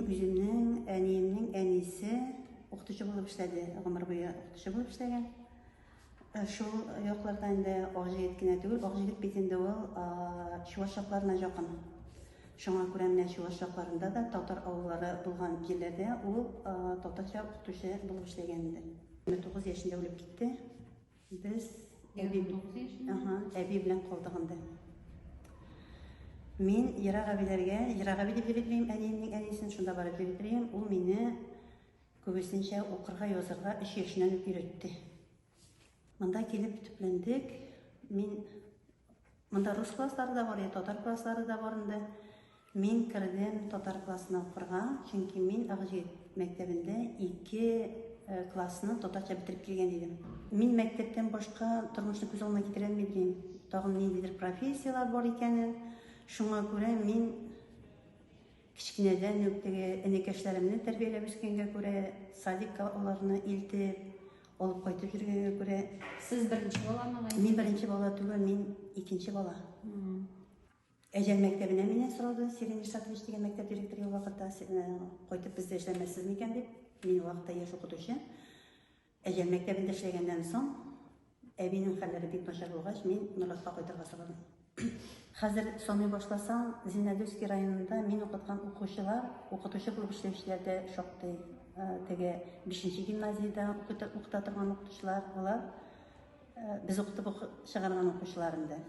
Үземнең әниемнең әнисе укытучы булып эшләде, гомер буе укытучы булып эшләгән. Э, шул якларда инде Акҗигит кенә түгел, Акҗигит бит инде ул чуваш якларына якын. Шуңа күрә менә чуваш якларында да татар авыллары булган җирләрдә ул татарча укытучы булып эшләгән инде. 29 яшендә үлеп китте. Без әби, ага, әби белән калдык анда. Мин Ерак әбиләргә, Ерак әби дип йөриклим, әниемнең әнисен шунда барып йөриклим. Ул мине күбесенчә укырга, язырга өч яшеннән үк өйрәтте. Монда килеп төпләндек. Мин Монда рус класслары да бар, татар класслары да бар инде. Мин кердем татар классына укырга, чөнки мин Агҗит мәктәбендә ике э, классны татарча бетереп килгән идем. Мин мәктәптән башка тормышны күз алдына китерә алмыйм. Тагын ниндидер профессияләр бар икәнен. Шуңа күрә мин Кечкенәдән үк теге энекәшләремне тәрбияләп үскәнгә күрә, садикка аларны илтеп, алып кайтып йөргәнгә күрә, Сез беренче баламы гаилә? мин беренче бала түгел, мин икенче бала. Әҗән мәктәбенә мине сорады, Сергей Нишатович дигән мәктәп директоры ул вакытта, сез, э, кайтып бездә эшләмәссез микән дип, мин ул вакытта яшь укытучы. Әҗәм мәктәбендә эшләгәннән соң, әбинең хәлләре бик начар булгач, мин Норлатка кайтырга сорадым. Хәзер саный башласам, Зиннәдүски районында мин укыткан укучылар, укытучы булып эшләүчеләр дә шактый. Э, теге 5 гимназиядә укыта торган укытучылар, алар э, без укытып чыгарган укучылар инде.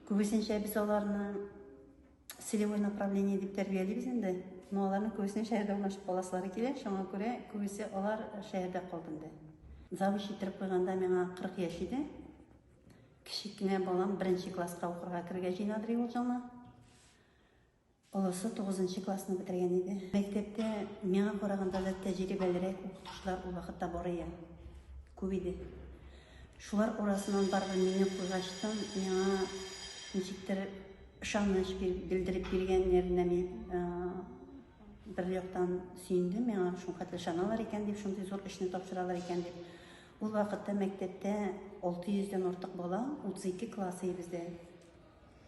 Күбесенчә без аларны целевой направление дип тәрбиялибез инде. Но аларның күбесенең шәһәрдә урнашып каласылары килә, шуңа күрә күбесе алар шәһәрдә калды инде. Завуч иттереп куйганда миңа 40 яшь иде. Кечек кенә балам беренче класска укырга керергә җыена Дриулҗана. Олысы 9 классны бетергән иде. Мәктәптә миңа караганда да тәҗрибәлерәк укытучылар ул вакытта бар иде. Күп иде. Шулар арасыннан барыбер мине куйгачтан, миңа ничектер ышаныч белдереп биргәннәренә мин бер яктан сөендем, миңа шулкадәр ышаналар икән дип, шундый зур эшне тапшыралар икән дип. Ул вакытта мәктәптә 600 дән артык бала, 32 класс иде бездә.